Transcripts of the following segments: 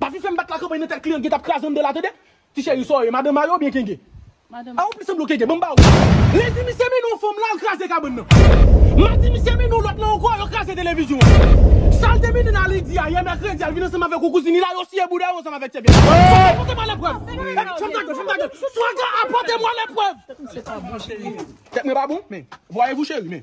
Pa vin fèm bat la kanpay nan tèt kliyan gentap kraze andan la tande ti cheri saw ye madan mayo oubyen kenke a ou plis sanble w kenke banm ba ou lendi misye mennen yon fanm lal kraze kabann nan madi misye mennen yon lòt la ankò yo kraze televizyon an sal te mennen nan lendi a yè mèkredi al vin ansanm avèk yon kouzin li la yo siye bouda yo ansanm avèk sèvyèt swaga apote mwen leprèv epi fèm gade fèm gade swaga apote mwen leprèv tèt mwen pa bon men vwayevou cheri men.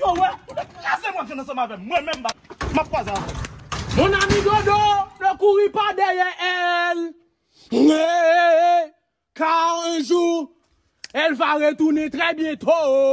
Yo wè, ou te kraze mwen vyann ansanm avè m. Mwen menm, m ap kwaze avè w. Mon ami Dodo, ne couris pas derrière elle, car un jour, elle va retourner très bientôt.